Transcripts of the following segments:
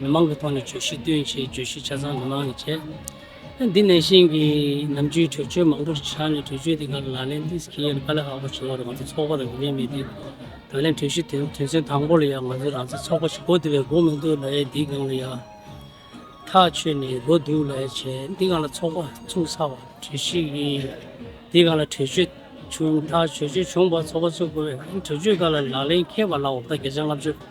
མི་མང་གི་ཐོག་ནས་བརྗོད་གཞི་བཏོན་ཆེད་བརྗོད་གཞི་ཆ་ཚང་མི་མང་ནས་བྱས། འདི་ནས་གཞན་གྱི་ནམ་རྒྱུན་གྲོས་ཆོད་མང་པོ་ཆགས་ནས་གྲོས་ཆོད་དེ་ག་ལ་ལག་ལེན་འདི་སྐྱེལ་ཡས་ནས་ག་ལ་ཧ་གོ་བྱེད་ཡས་རེད་ང་ཚོ་ཚོགས་པ་ལ་ཡིན་ཡས་མེད་འདི་ད་ལན་གྲོས་གཞི་དོན་དོན་ཚན་དང་པོ་ལ་ཡ་ང་ཚོ་རང་ཚེ་ཚོགས་པ་ཞིག་གོ་འདི་བས་གོ་མི་འདུག་ལ་ཡས་འདི་སྒང་ལ་ཡ་ཐག་ཆོད་ནས་གོ་འདུག་ལ་ཡས་བྱས་འདི་གང་ལ་ཚོགས་པ་ཚུགས་ཚར་བ་གྲོས་གཞི་ཡི་འདི་གང་ལ་གྲོས་ཆོད་བྱུང་ཐག་གྲོས་ཆོད་བྱུང་བ་ཚོགས་པ་ཚུགས་དགོས་བས་གྲོས་ཆོད་ག་ལ་ལག་ལེན་འཁེལ་བ་ལ་འོ་ཕོད་བརྒྱ་ཆ་ལྔ་བཅུ།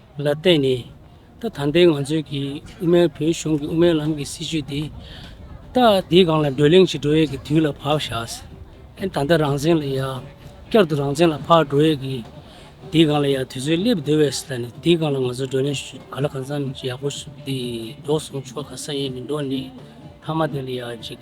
ལ་བརྟེན་ནས་ད་ད་ལྟའི་ང་ཚོའི་གི་དབུ་མའི་བོད་གཞུང་གི་དབུ་མའི་ལམ་གི་སྲིད་བྱུས་དེ་ད་དེའི་སྒང་ལ་བགྲོ་གླེང་བྱེད་འགྲོ་ཡས་གི་དུས་ལ་བབས་ཤག་ཨེ་ད་ལྟ་རང་བཙན་ལ་ཡ་བསྐྱར་དུ་རང་བཙན་ལ་འཕགས་འགྲོ་ཡས་གི་དེའི་སྒང་ལ་ཡ་དུས་ཚོད་སླེབས་འདོད་བས་ད་ནི་དེའི་སྒང་ལ་ང་ཚོ་བགྲོ་གླེང་ཞུ་ག་ལ་གང་ཙམ་ཡག་པོ་འདི་འགྲོ་སོང་ཆོ་ག་ས་ཡས་མི་འགྲོ་ནས་མཐའ་མ་དེ་ལ་ཡ་ཅིག།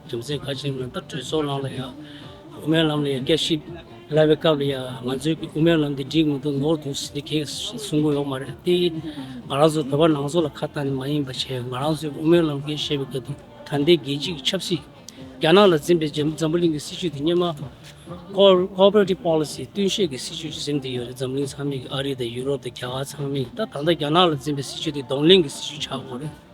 རྒྱུ་མཚན་གལ་ཆེན་མིན་པར་གྲོས་ཚོགས་ནང་ལ་ཡང་དབུ་མའི་ལམ་ལ་ཡང་སྐད་ཤིག་སླ་བའི་སྐབས་ལ་ཡང་ང་ཚོས་དབུ་མའི་ལམ་འདི་འགྲིག་མི་འདུག་ནོར་འདུག་ཟེར་དུས་གེགས་གསུངས་མགོ་ཡོང་མ་རེད་དེ། ང་རང་ཚོ་བོད་པ་ནང་ཚོགས་ལ་ཁ་བཏང་ནས་མ་ཡིན་པ་བྱས་ཡོད་ང་རང་ཚོས་དབུ་མའི་ལམ་འགན་བཞེས་པའི་སྐབས་དེ་ད་ལྟའི་རྒྱལ་སྤྱི་གི་ཆབ་སྲིད། རྒྱ་ནག་ལ་འཛིན་པའི་འཛམ་བུ་གླིང་གི་སྲིད་བྱུས་དེ་གཉེར་མ། Cooperative Policy། བསྟུན་བཤད་ཀྱི་སྲིད་བྱུས་གཟིམ་དེ་ཡོད་རེད་འཛམ་བུ་གླིང་ཚང་མས་ཨ་རི་དང་ཡུ་རོབ་དང་རྒྱ་གར་ཚང་མས་ད་ད་ལྟ་རྒྱ་ནག་ལ་འཛིན་པའི་སྲིད་བྱུས་དེ་གདོང་ལེན་གྱི་སྲིད་བྱུས་ཆགས་མགོ་རེད།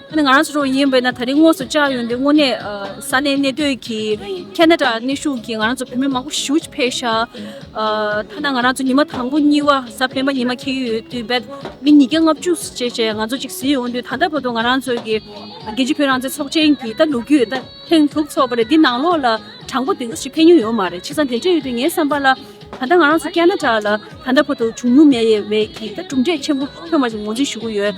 ང་རང་ཚོ་ཚོ་ཡིན་པས་ན་ད་རིང་དངོས་སུ་བཅར་ཡོང་དུས་དངོས་གནས་ས་གནས་གནས་སྡོད་ཀྱི་ཁྱེད་ནད་དྲག་ནད་ཤུགས་ཀྱིས་ང་རང་ཚོ་བོད་མི་མང་པོ་ཞི་བྱེད་ཕེབས་ཤག་ཐ་ན་ང་རང་ཚོ་ཉི་མ་དང་པོ་གཉིས་བ་ས་སྤེན་པ་ཉི་མ་འཁེལ་གྱི་ཡོད་དུས་བོད་མི་ཉིས་བརྒྱ་ལྔ་བཅུ་བཅས་བཅས་ང་ཚོ་གཅིག་བཟི་ཡོང་དུས་ད་ལྟ་བར་དུ་ང་རང་ཚོ་གི་རྒྱལ་སྤྱི་བོད་རང་བཙན་ཚོགས་ཆེན་གྱི་ད་ལུག་རྒྱུས་ད་ཐེངས་དྲུག་ཚོགས་པ་རེད་འདི་ནང་ལོགས་ལ་དྲང་པོ་དེ་འདྲ་ཞིག་ཕེབས་མྱོང་ཡོད་མ་རེད་བྱས་ཙང་དེ་འདྲ་ཡོད་དུས་ངའི་བསམ་པ་ལ་ད་ལྟ་ང་རང་ཚོ་སྐད་ན་དྲག་ལ་ད་ལྟ་བར་དུ་བྱུང་མྱོང་མེད་ཡས་བས་ཀྱི་ད་གྲུབ་འབྲས་ཆེན་པོ་ཐོན་མ་བྱུང་ངོ་འཛིན་ཞུ་གི་ཡོད།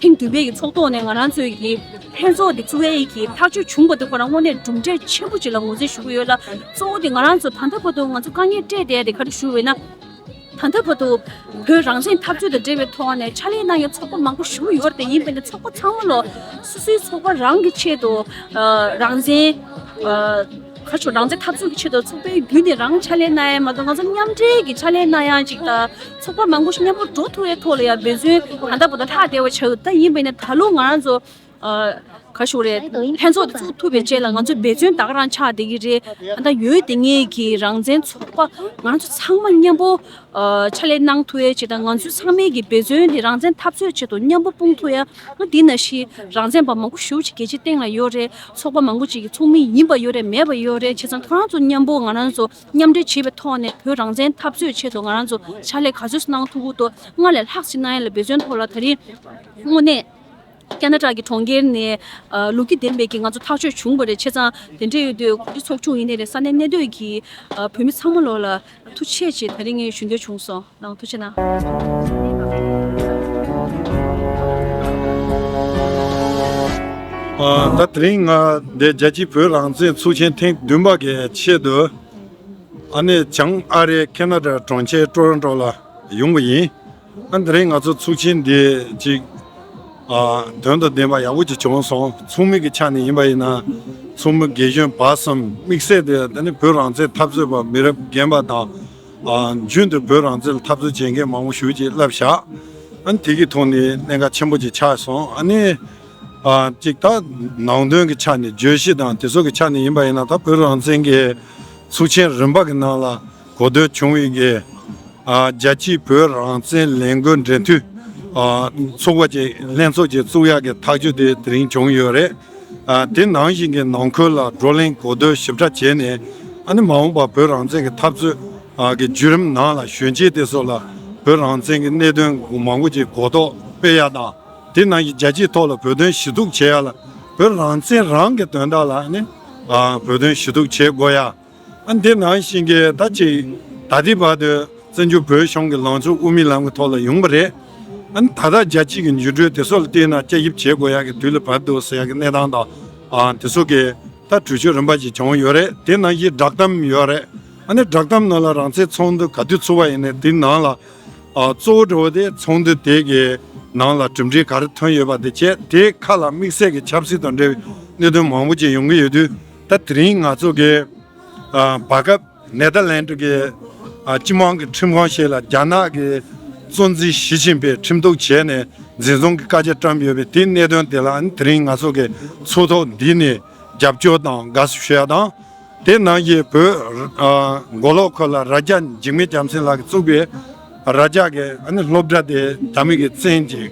ཐེངས་བདུན་པའི་ཚོགས་ཐོག་ནས་ང་རང་ཚོའི་ཡི་ཕན་ཚོགས་འདི་ཚུར་ཨེ་གྱིས་ཐག་གཅོད་བྱུང་པ་དེ་ཁོ་རང་དངོས་གནས་གྲུབ་འབྲས་ཆེན་པོ་ཅིག་ལ་ངོས་འཛིན་ཞུ་གི་ཡོད་ལ། གཙོ་བོ་དེ་ང་རང་ཚོ་ད་ལྟ་བར་དུ་ང་ཚོ་དཀའ་ངལ་སྤྲད་བསྡད་དེ་ག་རེ་ཞུ་འོས་ན། ད་ལྟ་བར་དུ་བོད་རང་བཙན་འཐབ་རྩོད་དང་འབྲེལ་བའི་ཐོག་ནས་ཕྱག་ལས་གནང་མཁན་ཚོགས་པ་མང་པོ་ཞུ་གི་ཡོད་དེ་ཡིན་པས་ན་ཚོགས་པ་ཚང་མ་ལོ་སོ་སོའི་ཚོགས་པ་རང་གི་ཆེད་དུ་རང་བཙན། ག་རེ་ཞུ་རང་བཙན་འཐབ་རྩོད་ཀྱི་ཆེད་དུ་ཚོགས་པའི་བརྒྱུད་ནས་རང་ཕྱག་ལས་གནང་ཡང་མ་གཏོགས་ང་ཚོ་མཉམ་འབྲེལ་གྱི་ཕྱག་ལས་གནང་ཡང་ཅིག་དང། ཚོགས་པ་མང་པོ་ཞིག་མཉམ་པོར་འགྲོ་ཐུབ་པའི་ཐོག་ལ་ཡང་འབད་བརྩོན་ད་ལྟ་བོ་ད་ལྷག་བདེ་བ་ཆགས་ཀྱི་ཡིན་པས་ན་ད་ལོ་ང་རང་ཚོ་ག་ཞུགས་རེད་ལྷན་ཚོགས་དེ་ཚུགས་ཐུབ་པའི་རྗེས་ལ་ང་ཚོ་འབད་བརྩོན་ད་ག་རང་ཆགས་བསྡད་ཀྱི་རེད་ད་ཡོད་དེ་ངེད་ཀྱི་རང་བཙན་ཚོགས་པ་ང་རང་ཚོ་ཚང་མ་མཉམ་པོ་ཕྱག་ལས་གནང་ཐུབ་བའི་ཆེད་དང་ང་ཚོ་ཚང་མའི་འབད་བརྩོན་དེ་རང་བཙན་འཐབ་རྩོད་ཆེད་དུ་མཉམ་པོ་སྤུངས་ཐུབ་ཡ་ང་འདི་ན་ཤི་རང་བཙན་པ་མང་པོ་ཞུགས་ཅིག་གལ་ཆེ་སྟེང་ལ་ཡོད་རེད་ཚོགས་པ་མང་པོ་ཅིག་གི་ཚོགས་མི་ཡིན་པ་ཡོད་རེད་མེད་པ་ཡོད་རེད་བྱས་ཙང་ཁོ་རང་ཚོ་མཉམ་པོ་ང་རང་ཚོ། མཉམ་འབྲེལ་བྱེད་པའི་ཐོག་ནས་བོད་རང་བཙན་འཐབ་རྩོད་ཆེད་དུ་ང་རང་ཚོ་ཕྱག་ལས་ག་ཚོད་གནང་ཐུབ་ཀུ་ཏོ་སྔར་ལས་ལྷག་ཅིག་གནང་ཡ་ལ་འབད་བརྩོན་ཐོག་ལ་ད་རིང་དངོས་གནས་ཀ་ན་གྲགས་ཀྱི་གྲོང་ཁྱེར་ནས་ལུག་ཁྱི་འདེམས་པའི་གི་ང་ཚོ་ཐག་ཆོད་བྱུང་བ་རེད་ཆེ་ཚང་དེ་འདྲས་ཡོད་དུས་གོ་སྒྲིག་ཚོགས་ཆུང་ཡིན་ནའི་རེད་ས་གནས་གནས་སྡོད་ཀྱི་བོད་མི་ཚང་མ་ལོག་ལ་ཐུག་ཆེད་ཆེད་ད་རིང་ཞུ་འདོད་བྱུང་སོང། ནང་དུ་ཕྱིན་ན། ད་དེ་རིང་ང་རྒྱལ་སྤྱིའི་བོད་རང་བཙན་ཚོགས་ཆེན་ཐེངས་བདུན་པ་གི་ཆེད་དུ་ཨ་ནེ་བྱང་ཨ་རའི་ཁེ་ན་ར་གྲོང་ཁྱེར་ཀྲོ་རོན་ཀྲོ་ལ་ཡོང་གི་ཡིན། ད་དེ་རིང་ང་ཚོ་ཚོགས་ཆེན་འདི་གཅིག་དོན་དང་ལྡན་པ་ཡག་པོ་གཅིག་བྱུང་སོང་ཚོགས་མི་གི་ཆ་ནས་ཡིན་པ་ཡིན་ན་ཚོགས་མི་དགེ་གཞོན་བར་གསུམ་དམིགས་བསལ་དེ་ད་ནི་བོད་རང་བཙན་འཐབ་རྩོད་པ་མི་རབས་རྒན་པ་དང། རྒྱུན་དུ་བོད་རང་བཙན་ལ་འཐབ་རྩོད་བྱེད་མཁན་མང་པོ་ཞུགས་རྗེས་བསླབ་བྱ་དེ་གི་ཐོག་ནས་གནད་འགག་ཆེན་པོ་ཅིག་ཆགས་སོང་ཨ་ནི། གཅིག་ད་ནང་དོན་གྱི་ཆ་ནས་བརྗོད་གཞི་དང་དེ་ཚོ་གི་ཆ་ནས་ཡིན་པ་ཡིན་ན་ད་བོད་རང་བཙན་གྱི་ཚུགས་ཆེན་རིམ་པ་གི་ནང་ལ་གོ་ཐོས་བྱུང་བའི་གི་རྒྱལ་སྤྱིའི་བོད་རང་བཙན་ལས་འགུལ་འབྲེལ་མཐུད་ཚོགས་པ་ཅིག་ལྷན་ཚོགས་ཅིག་བཙུགས་ཡག་གི་ཐག་གཅོད་དེ་དེ་རིང་བྱུང་ཡོད་རེད། དེ་ནང་བཞིན་གྱི་ནང་ཁུལ་ལ་བགྲོ་གླེང་གོ་བསྡུར་ཞིབ་ཕྲ་བྱས་ནས་ཨ་ནེ་མ་འོངས་པར་བོད་རང་བཙན་གྱི་འཐབ་རྩོད་ཀྱི་བརྒྱུད་རིམ་ནང་ལ་གཞོན་སྐྱེས་དེ་ཚོ་ལ་བོད་རང་བཙན་གྱི་གནད་དོན་མང་པོ་ཅིག་གོ་རྟོགས་སྤེལ་ཡག་དང་དེ་ནང་བཞིན་རྒྱལ་སྤྱིའི་ཐོག་ལ་བོད་དོན་ཞུ་གཏུག་བྱེད་ཡག་ལ་བོད་རང་བཙན་རང་གི་དོན་དག་ལ་ནི་བོད་དོན་ཞུ་གཏུག་བྱེད་དགོས་ཡ། དེ་ནང་བཞིན་གྱི་ད་ཅིག་ད་ལྟའི་བར་དུ་བཙན་བྱོལ་བོད་གཞུང་གི་ལངས་ཕྱོགས་དབུ་མའི་ལམ་གྱི་ཐོག་ལ་ཡོང་བ་རེད། ད་ལྟ་རྒྱལ་སྤྱིས་ཀྱི་འགྱུར་གྲོས་དེ་ཚོ་ལ་བལྟས་ན་དཔྱད་ཞིབ་བྱེད་དགོས་ཡག་གི་དུས་ལ་བབས་འདུག་ཟེར་ཡག་གི་གནས་སྟངས་དང་དེ་ཚོ་གི་ད་གྲོས་ཆོད་རིམ་པ་ཞིག་བྱུང་ཡོད་རེད་དེ་ནང་བཞིན་བསྒྲགས་གཏམ་ཡོད་རེད། བསྒྲགས་གཏམ་ནང་ལ་རང་ཚེ་ཚོགས་འདུ་ག་དུས་ཚུགས་པ་ཡིན་ནས་དེ་ནང་ལ་གཙོ་བོ་འགྲོ་བ་དེ་ཚོགས་འདུ་དེ་གི་ནང་ལ་གྲུབ་འབྲས་ག་རེ་ཐོན་ཡོད་པ་དེ་བྱས་དེ་ཁ་ལ་དམིགས་བསལ་གྱི་ཆབ་སྲིད་དང་འབྲེལ་བའི་གནད་དོན་མང་པོ་ཅིག་ཡོང་གི་ཡོད་དུས། ད་དེ་རིང་ང་ཚོ་གི་བར་སྐབས་ནེ་ཐར་ལན་ཏུ་གི་སྤྱི་དམངས་ཀྱི་ཁྲིམས་ཁང་ཞིག་ལ་རྒྱ་ནག་གི་གཙོ་འཛིན་ཞི་ཅིན་ཕེ་ཁྲིམས་གཏུགས་བྱས་ནས་འཛིན་བཟུང་གི་བཀའ་རྒྱ་བཀྲམ་ཡོད་པའི་དེའི་གནད་དོན་དེ་ལ་དེ་རིང་ང་ཚོ་གི་ཚོགས་ཐོག་འདི་ནས་རྒྱབ་སྐྱོར་དང་དགའ་བསུ་ཞུ་ཡ་དང། དེ་ནང་གི་བོད་མགོ་ལོག་ཁོ་ལ་རྭ་རྒྱ་འཇིགས་མེད་རྒྱ་མཚན་ལགས་ཀྱིས་བཙུགས་པའི། ར་ལྕགས་ཀྱི་སློབ་གྲྭ་དེ་ད་མིག་གིས་བཙན་ཅིང་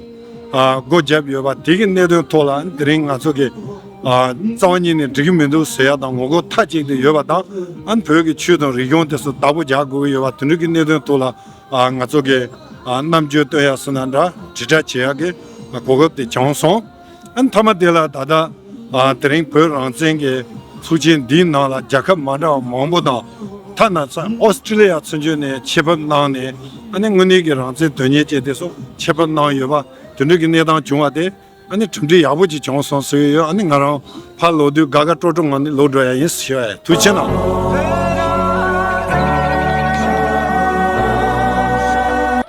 སྒོ་བརྒྱབ་ཡོད་པ་དེ་གི་གནད་དོན་ཐོག་ལ་དེ་རིང་ང་ཚོ་གི་རྩ་བ་ཉིད་ནས་འགྲིག་གི་མི་འདུག་ཟེར་ཡ་དང་ངོ་རྒོལ་མཐའ་གཅིག་ཏུ་ཡོད་པ་དང་བོད་ཀྱི་ཆོས་དང་རིག་གཞུང་དེ་སུ་བདག་པོ་རྒྱག་དགོས་ཀྱི་ཡོད་པ་དེ་འདྲུ་གི་གནད་དོན་ཐོག་ལ་ང་ཚོ་གི་རྣམ་དཔྱོད་བཏོན་ཡག་སུ་ན་འདྲ་དྲིལ་བསྒྲགས་བྱེད་ཡག་གི་གོ་སྐབས་དེ་བྱང་སོང། མཐའ་མ་དེ་ལ་ད་ལྟ་དེ་རིང་བོད་རང་བཙན་གྱི་ཚོགས་ཆེན་འདིའི་ནང་ལ་རྒྱལ་ཁབ་མ་འདྲ་བ་མང་པོ་དང་ཐ་ན Australia ཚུན་ཆོད་ནས་ཆེད་ཕབ་གནང་ནས་དངོས་གནས་ཀྱི་རང་བཙན་དོན་གཉེར་བྱས་ཏེ་སོགས་ཆེད་ཕབ་གནང་ཡོད་པ་དེ་འདྲ་གྱི་གནས་སྟངས་བྱུང་བ་དེ་གྲུབ་འབྲས་ཡག་པོ་ཅིག་བྱུང་སོང་ཟེར་གྱི་ཡོད་ང་རང་ཕར་ལོག་དུས་དགའ་དགའ་སྤྲོ་སྤྲོ་ངང་ནས་ལོག་འགྲོ་ཡ་ཡིན་ཟེར་བ་ཡིན་དུས་ཕྱི་ནང།